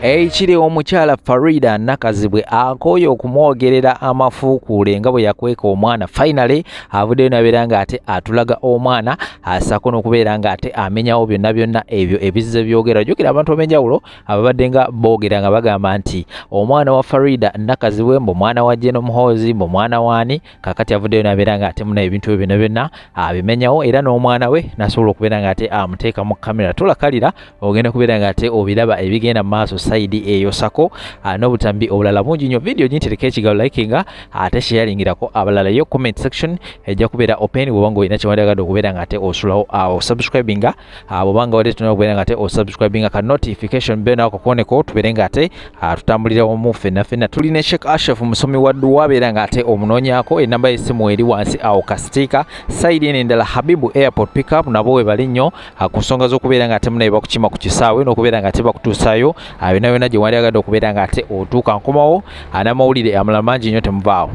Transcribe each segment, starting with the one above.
ekiri omukyala farida nakazibwe akooye okumwogerera amafuukuule nga bwe yakweka omwana finally avuddeyo nabeera nga ate atulaga omwana asako nokubeera nga ate amenyawo byonna byonna ebyo ebizze byogera jukira abantu obenjawulo ababadde nga boogera nga bagamba nti omwana wa farida nakazibwe mbu mwana wa jeno muhoozi mbu mwana waani kakati avuddeyo nabeera nga ate muna ebintu ebyo byona byonna abimenyawo era n'omwana we nasobola okubeera nga ate amuteeka mu kamera tulakalira ogenda kubeera nga ate obiraba ebigenda mu maaso sayidi eyo sako ah, n'obutambi obulala bungi nnyo vidiyo gintereka ekigalo likinga ate sheyalingirako abalala yo comment section ejja kubeera open bwobanga olina kyewandyagadde okubeera nga ate osulawo awo ah, subscribinga ah, bwobanga wadde tuna okubeera nga te osubscribinga ka notification bbe nawe kakuoneko tubeere nga ate ah, tutambulira wamu fenna fenna tuli ne sheik ashef musomi wa duwa beera nga ate omunoonyako enamba y'essimu eri wansi awo kasitiika sayidi eno endala habibu airport pickup nabo webali nnyo ah, ku nsonga z'okubeera nga ate munaye bakukima ku kisaawe n'okubeera nga ate bakutuusayo yona yona gye wali agadde okubeera nga ate otuuka nkomawo n'amawulire amala mangi nnyo temuvaawo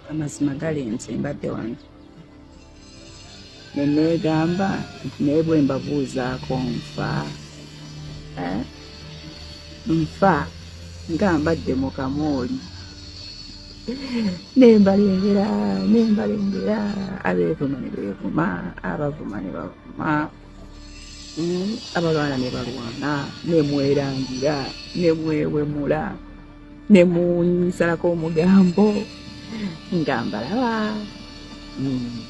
amazima gali nti mbadde wano neneegamba nti naye bwe mbabuuzaako nfa eh? nfa nga mbadde mu kamooli nembalengera nembalengera abeevuma ne beevuma abavuma ne bavuma hmm? abalwana ne balwana nemwerangira nemwewemula ne munsalako omugambo nga mbalaba hmm.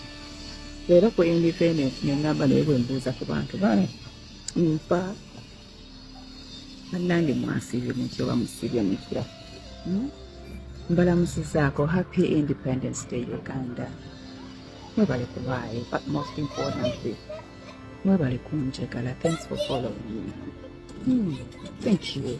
leero ku independence nengamba naye bwembuuza ku bantu bano nfa bannange mwasibye mutya oba musibye mutya hmm? mbalamusizaako happy independence day uganda mwebale kubaayo but most importantly mwebale kunjagala thanks for following me hmm. thank you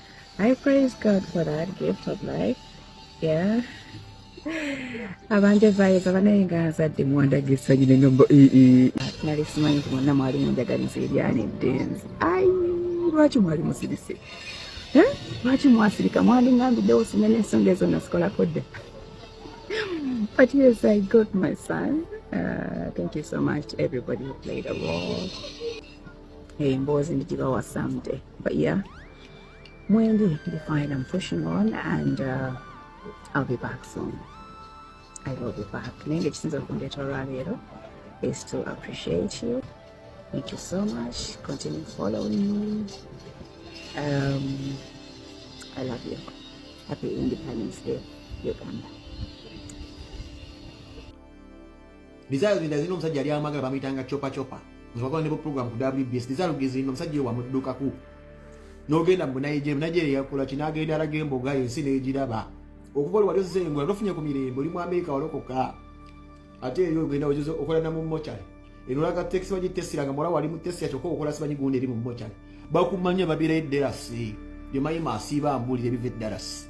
I praise God for that gift of life. Yeah. abanja vayiza banaye nga azadde muwandaga essanyu ne nombo nali simanyi nti mwonna mwali munjagaliza ebyana eddenzi ai lwaki mwali musirise lwaki mwasirika mwandingambiddewo sinya n'ensonga ezo nasikolako dda but yes i got my son uh, thank you so much everybody who played a role emboozi eh, ndigibawa someday but yeah mwendi ndi fine i'm pushing on and uh, i'll be back soon i will be back naye nga ekisinza okundeeta olwaleero is to appreciate you thank you so much continue following me um, i love you happy independence day uganda Desire Luginda zirina omusajja yali amwagala bamuyitanga chopa chopa nga bakola ne program ku WBS. Desire Luginda zirina omusajja ewa muddukaku n'ogenda mu Nigeria Nigeria yakola ki n'agenda alaga emboga ensi n'egiraba okuva oli wali ozze engula nofunye ku mirembe oli mu Amerika walokoka ate eri ogenda ojuza okola na mu mochari eno olaga tekisi baji tesira nga muwala wali mu tesira kyokka okola simanyi gundi eri mu mochari bakumanya babeera edderasi byomanyi masiiba mbuulire biva eddarasi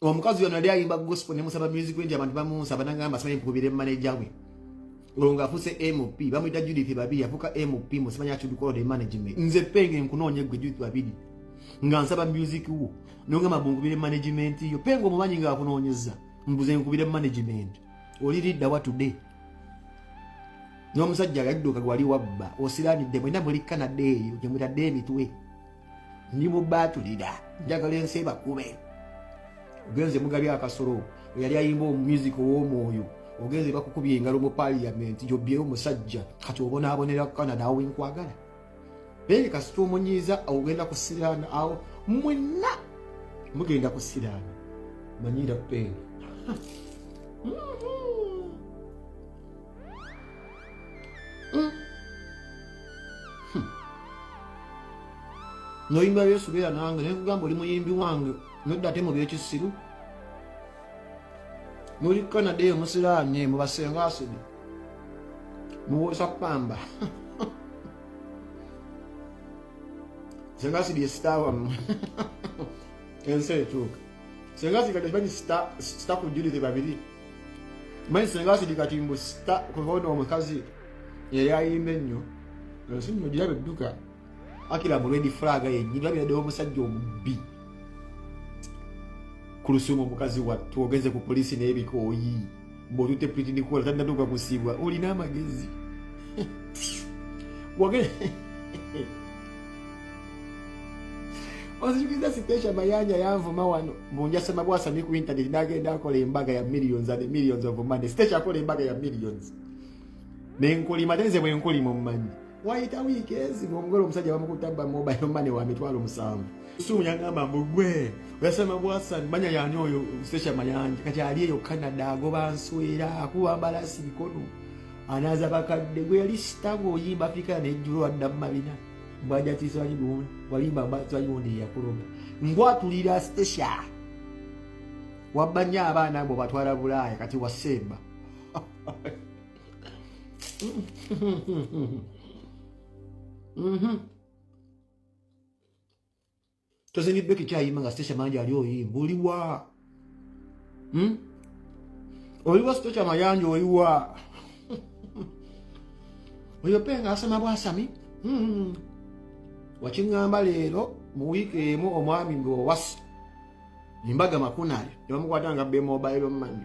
omukazi yono yali ayimba gospel ne musaba music wendi abantu bamunsa banangamba simanyi mukubire manager we olwo ng'afuuse mp bamuyita judith babiri afuuka mp musimanyi atudukolode management nze penge nkunoonya gwe judith babiri nga nsaba music wo nongamba bunkubire management yo penge omumanyi ng'akunoonyeza mbuze nkubire management oli lidda wa today n'omusajja yadduka gwali wabba osiranidde mwena muli canada eyo gyemutadde emitwe ndi mubaatulira njagala ensi ebakube ogenze mugabi akasolo eyali ayimba omumusik ow'omwoyo ogenze bakukubya engalo mu paliyamenti gyobbyeo omusajja kati obonaabonera kukana naawe nkwagala naye kasita omunyiiza ogenda kusiraana awo mwenna mugenda kusiraana manyira peeni Hmm. Hmm. noyimba yesu beera nange naye kugamba oli muyimbi wange nodda ate mu byekisiru noli canada eyo musiraani mubasenga asidi muwosa kupamba senga asidi esitaawamu ensi etuuka senga sikati bani sita sita kujuli de babili mani senga sidi kati mbu sita kuhono omukazi yali ayimba ennyo nsi nno gira bedduka akira mu lwedi fulaga yennyini babiradewo omusajja omubbi ku lusuumu omukazi wattu ogenze ku poliisi n'ebikooyi bwotute pretend kukola tanatuuka kusibwa olina amagezi wage ozijukiza sitesha mayanja yanvuma wano munjasema bwasami ku internet nagenda akola embaga ya millions and millions of money sitesha akola embaga ya millions nenkulima tenze bwenkulima omumanyi wayita wiiki ezi ng'omugole omusajja bamukutte abba mobile money wa mitwalo musanvu sumu yagamba mbu gwe oyasema bwasani manya yani oyo sesha mayanja kati ali eyo canada agoba nswera akuba mbalasi bikono anaaza bakadde gwe yali sitago oyimba afirika nejjulo adda mu mabina mbwaja tiswali gundi walimba tiswali gundi yakuloga ngwatulira sesha wabba nnyo abaana abo batwala bulaaya kati wasemba Mm-hmm. tozingidde ekikyayima nga sitesha mangi ali oyimba oliwa hmm? oliwa sitesha mayanja oliwa oyo pe nga asama bwasami hmm. wakiŋŋamba leero mu wiiki emu omwami ng'owasa embaga makunayo tebamukwata nga bemobairo mani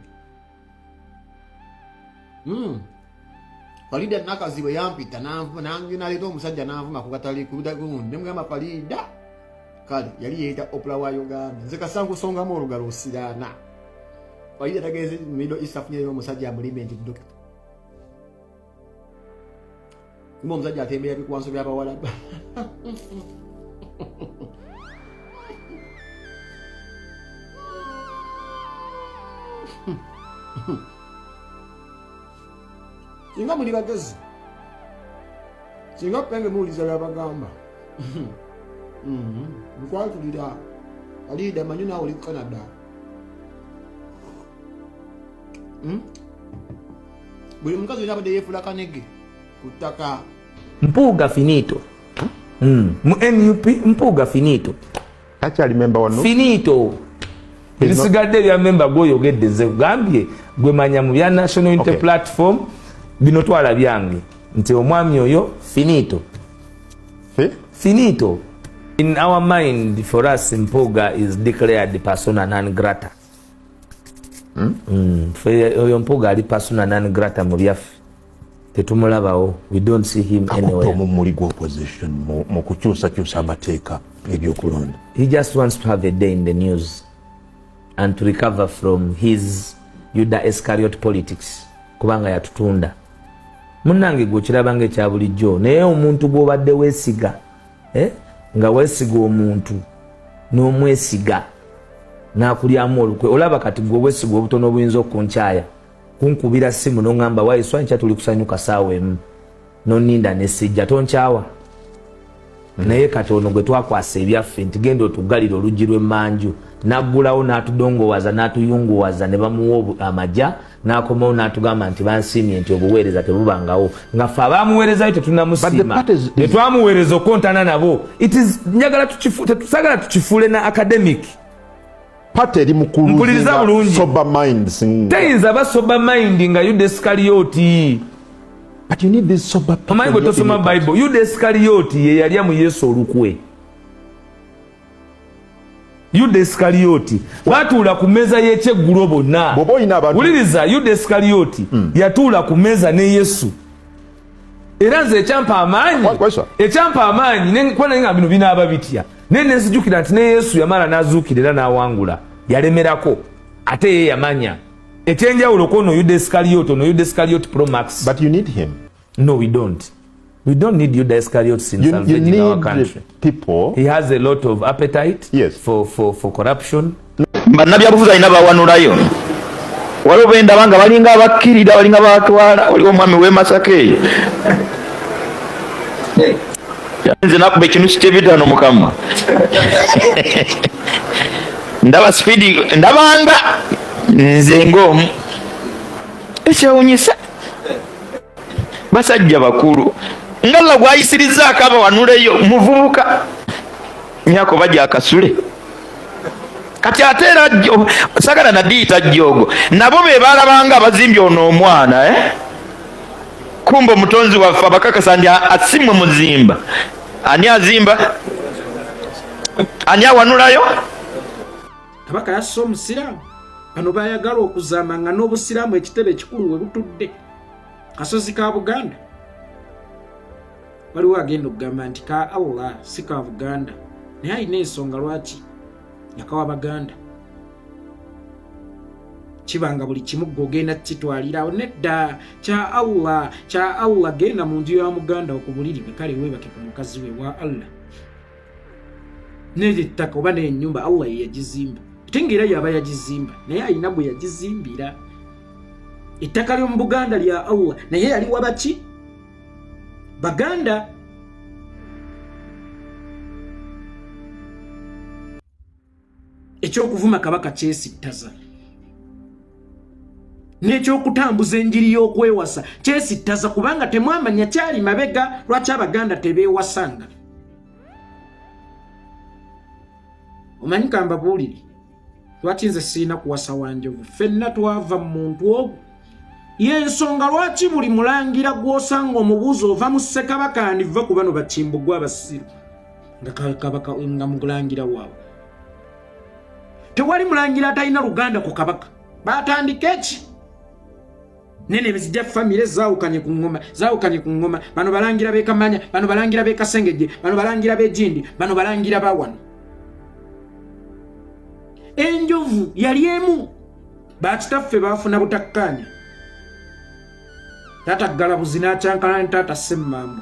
Hmm. Farida Nakazibu yampita naleeta omusajja nanvuma kugatali kudagundi nemugamba Farida kale yali yeeta opula wa Uganda nze kasankusongamu olugalo osiraana Farida tagenze middle east afunyeyo omusajja amulime nti dokita Kumbe omusajja atembera bikwanso bya bawala. Singa muli bagezi. Singa penge muwuliza byabagamba. Nkwatulira. Mm-hmm. Alida manyi naawe oli ku Canada. Hmm? buli mukazi olina abadde yeefula kanege ku ttaka mpuuga finito hmm. mu nup mpuuga finito akyali memba wano finito ebisigadde ebya memba gwoyogedde nze kugambye gwemanya mu bya national unity okay. platform bino twala byange nti omwami oyo finito eh? finito in our mind for us mpuuga is declared persona non grata hmm? Hmm, oyo mpuga ali pasuna nan grata mu byaffe tetumulabawo akutte omummuli gwa opposition mu kukyusakyusa amateeka ebyokulonda he just wants to have a day in the news and to recover from his yuda escariot politics kubanga yatutunda munange gwe okirabanga ekya bulijjo naye omuntu gwobadde wesiga eh? nga wesiga omuntu n'omwesiga nakulyamu olukwe olaba kati gwe obwesiga obutono obuyinza okunkyaya kunkubira simu noŋamba waiswankya tuli kusanyuka saawa emu noninda nesijja tonkyawa mm. naye kati ono gwe twakwasa ebyaffe nti genda otugalire oluggi lw'emmanju naggulawo n'atudongowaza n'atuyunguwaza ne bamuwa amaja nakomawo natugamba nti bansiimye nti obuweereza tebubangawo nga fe abamuweerezayo tetunamusiima netwamuweereza okukontana nabo njagala tetusagala tukifuule na academic pate eri mukulumpuliriza bulungi teyinza ba sober mind nga yudesikaliyoti omanyi bwe tosoma bible yudesikaliyoti yeyalya mu yesu olukwe yuda esikaliyoti batuula ku mmeeza y'ekyeggulo bonna wuliriza yuda esikaliyoti hmm. yatuula ku mmeeza ne yesu era nze ekyampa amaanyi ekyampa amaanyi nekwananga bino binaaba bitya naye nenzijukira nti ne yesu yamala n'azuukira era n'awangula yalemerako ate ye yamanya ekyenjawulo kwono yuda esikaliyoti ono yuda esikaliyoti promax No, we don't. We don't need Yuda Iscariots in you, salvaging you our country. People. He has a lot of appetite yes. for, for, for corruption. bannabyabufuzi alina bawanulayo waliwo bendaba nga balinga abakkirira balinga batwala waliwo omwami wemasaka eyo nze nakuba ekintu kikyebitano mukamwa ndaba sipidi ndabanga nze ngaomu ekyewunyisa basajja bakulu nga allah gwayisirizzaako abawanuleyo muvubuka nyako baja akasule kati ate era sagala nadiyita jjoogo nabo be balabanga abazimbye ono omwana eh? kumba omutonzi waffe abakakasa nti asimwe muzimba ani azimba ani awanulayo kabaka yassa omusiraamu bano bayagala okuzaama nga n'obusiraamu ekitebe ekikulu we butudde kasozi ka buganda waliwo agenda okugamba nti ka allah si ka buganda naye alina ensonga lwaki yakawa baganda kibanga buli kimu gwe ogenda kukitwalirawo nedda kya allah kya allah genda mu nju ya muganda okubulirire kale webake ku mukazi we wa allah neryo ettaka oba nenyumba allah yeyagizimba ate nga era yaba yagizimba naye alina gwe yagizimbira ettaka lyomu buganda lya allah naye yali wabaki baganda eky'okuvuma kabaka kyesittaza n'ekyokutambuza enjiri y'okwewasa kyesittaza kubanga temwamanya kyali mabega lwaki abaganda tebeewasanga omanyi kambabuulire lwaki nze sirina kuwasa wanjovu fenna twava mu muntu ogwo yensonga lwaki buli mulangira gw'osanga omubuuzi ova mu ssekabaka andiva ku bano bakimbugwa abasiru nga kabaka nga mulangira waabwe tewali mulangira atalina luganda ku kabaka batandika eki nene bizija famire zawukanye ku ngoma zawukanye ku ngoma bano balangira bekamanya bano balangira bekasengeje bano balangira bejindi bano balangira bawano enjovu yali emu bakitaffe bafuna butakkaanya taata ggalabuzi n'akyankana ne taata semmamba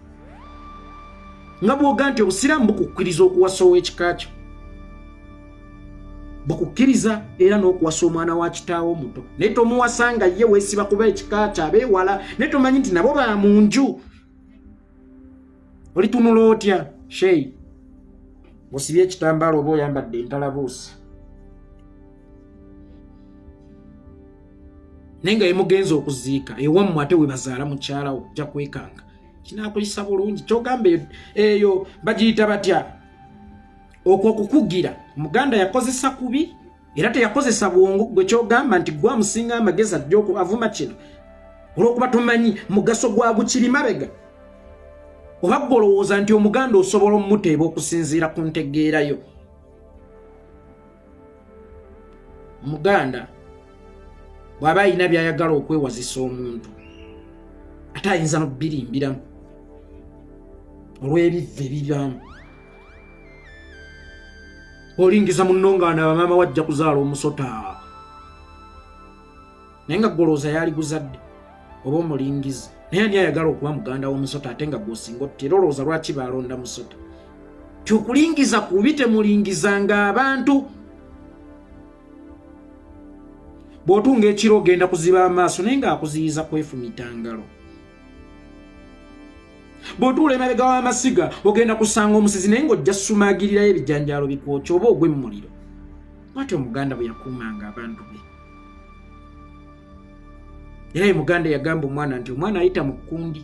nga bwoga nti obusiraamu bukukkiriza okuwasa ow'ekika kyo bukukkiriza era n'okuwasa omwana wa kitaawo omuto naye tomuwasa nga ye weesiba kuba ekika kyo abeewala naye tomanyi nti nabo ba mu nju olitunula otya shei osibye ekitambaala oba oyambadde entalabuusi naye nga yemugenza okuziika ewammwe ate webazaala mukyalawo ja kwekanga kinakuyisa bulungi kyogamba eyo bagiyita batya okwo okukugira muganda yakozesa kubi era teyakozesa bwongo gwe kyogamba nti gwe amusinga amagezi ajja avuma kino olwokuba tomanyi mugaso gwa gukiri mabega oba gwe olowooza nti omuganda osobola omuteeba okusinziira ku ntegeerayo omuganda bw'aba alina by'ayagala okwewazisa omuntu ate ayinza nobbilimbiramu olw'ebivve bibyamu olingiza munno nga na bamaama wajja kuzaala omusota naye nga golooza yaali guzadde oba omulingizi naye ani ayagala okuba muganda womusota ate nga gwosinga otutera olowooza lwaki baalonda musota kyokulingiza kubi temulingizanga abantu bwotunga ekiro ogenda kuziba amaaso naye ngaakuziyiza kwefumitangalo bwotuula emabega w'amasiga ogenda kusanga omusizi naye ngaojja sumagirirayo ebijanjaalo bikwokya oba ogwemmuliro bwati omuganda bwe yakuumanga abantu be era ye muganda yagamba omwana nti omwana ayita mu kkundi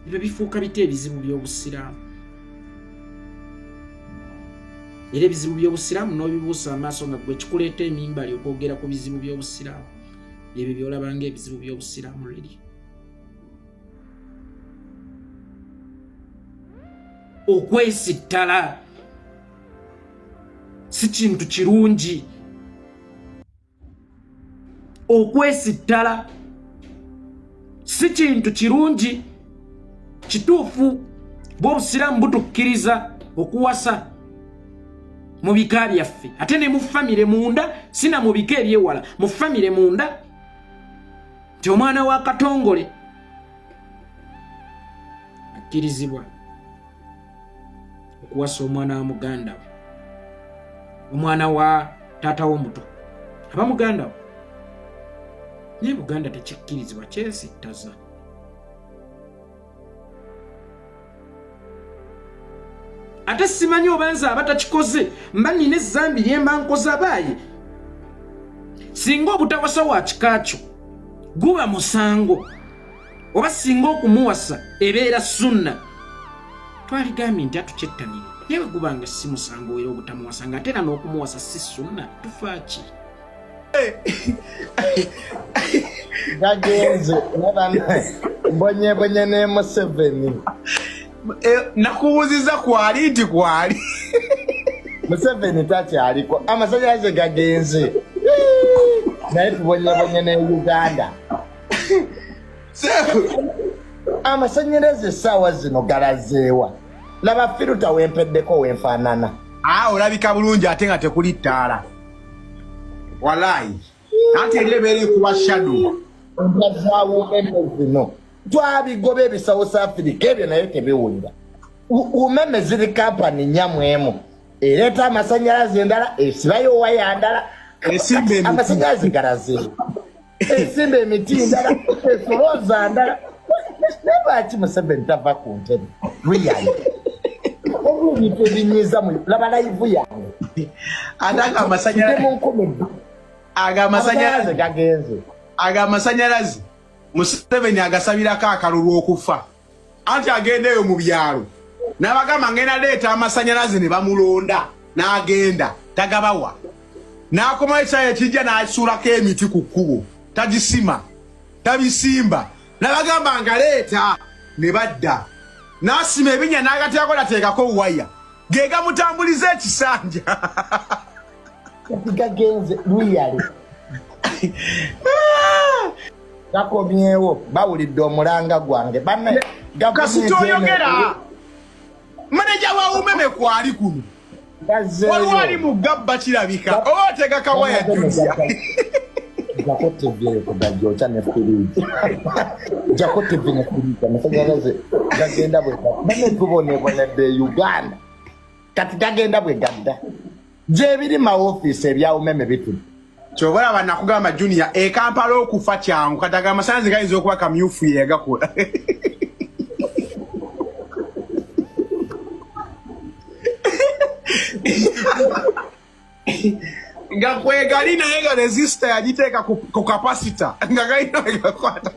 ebyo bifuuka bita ebizibu by'obusiraamu era ebizibu by'obusiraamu n'obibuusa amaaso nga gwe kikuleeta emimbali okwogera ku bizibu by'obusiraamu ebyo byolaba nga ebizibu by'obusiraamu leli okwesittala si kintu kirungi okwesittala si kintu kirungi kituufu bwobusiraamu butukkiriza okuwasa mu bika byaffe ate ne mu famire munda sina mu bika ebyewala mu famire munda nti omwana wa katongole akkirizibwa okuwasa omwana wa muganda we omwana wa taata wo omuto aba muganda we naye buganda tekikkirizibwa kyesittaza ate simanyi oba nze aba takikoze mba nina ezambi lyemba nkoza baaye singa obutawasa wa kika kyo guba musango oba singa okumuwasa ebeera sunna twaligambye nti atukyettanire naye wegubanga si musango era obutamuwasa nga ate era n'okumuwasa si sunna tufaaki gagenze mbonyebonye ne museveni eh, nakubuziza kwali nti kwali museveni takyaliko amasanyalaze gagenze naye tubonyebonye ne uganda amasanyalaze esaawa zino galazeewa laba firuta wempeddeko wenfaanana aa ah, olabika bulungi ate nga tekuli ttaala walaayi anti eri ebeera ekuba shado ntazaawo eno zino twabigoba ebisawo sa afirika ebyo naye tebiwulira umeme ziri kampani nyamwemu ereeta amasanyalaze endala esibayo waya ndala amasanyalaze galazeewa esimba emiti ndala esolooza ndala naye lwaki museveni tava ku ntebe riyali ebintu ebinyiza laba layivu yange ate ago amasanyalaze ago amasanyalaze gagenze ago amasanyalaze museveni agasabirako akalulu okufa anti agenda eyo mu byalo nabagamba ngenda leeta amasanyalaze ne bamulonda n'agenda tagabawa n'akomawo ekisaya ekijja n'asuulako emiti ku kkubo tagisima tabisimba nabagamba nga leeta ne badda n'asima ebinya n'agateako nateekako waya ge gamutambuliza ekisanja gagenze luyale gakomyewo bawulidde omulanga gwange bane kasita oyogera maneja wa umeme kwali kuno waliwo ali mu gabba kirabika oba otega kawaya julia jako tv kugajoca ne firiji jako tv ne firiji amasanyalaze gagenda bwe bane tubonebonedde uganda kati tagenda bwe gadda gyebiri mawofiisi ebya umeme bituli kyoba olaba nakugamba junior ekampala okufa kyangu kati aga amasanzi gayinza okuba kamyufu yegakola nga kwegali naye nga resista yagiteeka ku kapasita nga galina wegakwata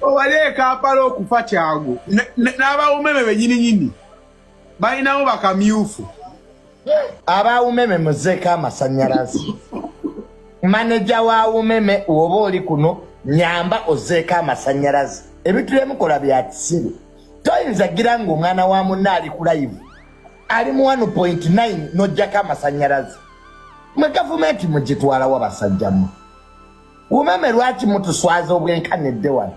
owali ekampala okufa kyangu n'abawumeme benyininyini balinawo bakamyufu aba umeme muzeeko amasanyalaze maneja wa umeme woba oli kuno nyamba ozeeko amasanyalaze ebintu byemukola bya kisiru toyinza gira nga omwana wa munna ali ku layivu ali mu 1.9 nojjako amasanyalaze mwe gavumenti mugitwalawo basajjamu umeme lwaki mutuswaza obwenkanidde wano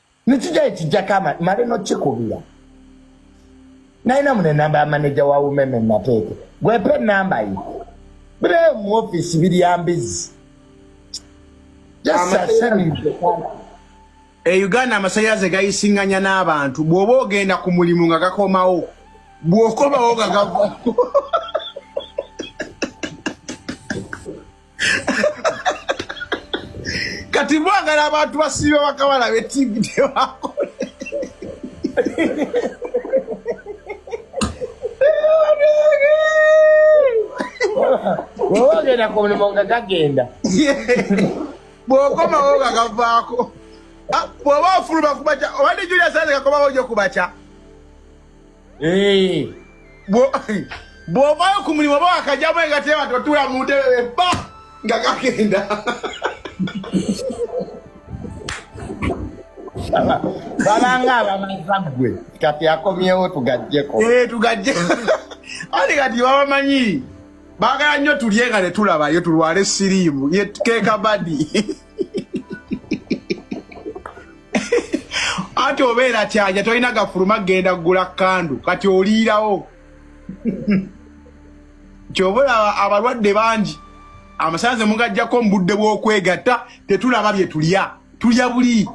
nikija ekijjako male nokikubira nalina mune namba ya maneja wa umeme nateeke gwepe enamba ye bireyo mu ofisi biryambizi e uganda amasanyalaze gayisinganya n'abantu bw'oba ogenda ku mulimu nga gakomawo bw'okomawo nga gava kati mwagala abantu basiiba bakawala be tv tebakole woba ogenda ku mulimu nga gagenda bwokomawo nga gavaako ah, bwoba ofuluma kubaca obadde julia sanze kakomawo nyo kubaca Eh. bw'ovaayo ku mulimu oba wakajjamu engateeba totuula mu ntebe ebba nga kagenda babanga abamaza gwe kati akomyewo tugajjeko eh, tugajje ani kati babamanyi baagala nnyo tulye nga netulabayo tulwale siriimu kekabadi anti obeera kyanja tolina gafuluma genda kugula kandu kati oliirawo kyoba olaba abalwadde bangi amasanze mugajjako mu budde bw'okwegatta tetulaba bye tulya tulya buli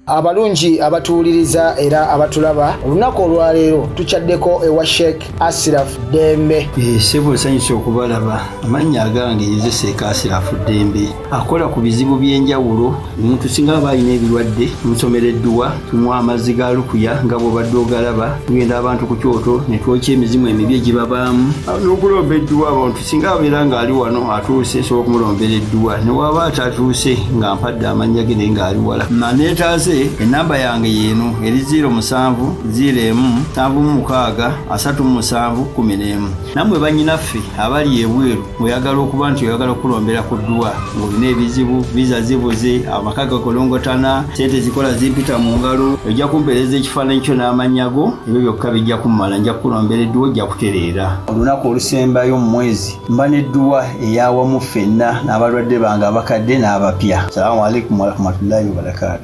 abalungi abatuwuliriza era abatulaba olunaku olwaleero tukyaddeko ewa sheik asiraf dembe eh, sebo nsanyusa okubalaba amannya agange yezeseeka asiraf dembe akola ku bizibu by'enjawulo omuntu singa aba alina ebirwadde nsomera edduwa tunywa amazzi ga lukuya nga bwobadde ogalaba tugenda abantu ku kyoto netwokya emizimu emibi egibabaamu n'okulomba edduwa abantu singa abeera ng'ali wano atuuse nsobola okumulombera edduwa ne waaba atatuuse nga mpadde amannya ge naye ng'ali wala maneetaaze ennamba yange yeeno eri 0 musanvu 0 emu nsanvu mu mukaaga asatu mu musanvu kumi n'emu nammwe bannyinaffe abali ebweru oyagala okuba nti oyagala okulombera ku dduwa ng'olina ebizibu viza zibuze amaka gakolongotana sente zikola zimpita mu ngalo ojja kumpeereza ekifaananyi kyo n'amannya go ebyo byokka bijja kummala nja kukulombera edduwa ojja kutereera olunaku olusembayo mu mwezi mba n'edduwa eyawamu ffenna n'abalwadde bange abakadde n'abapya salamu alaikum warahmatullahi wabarakatu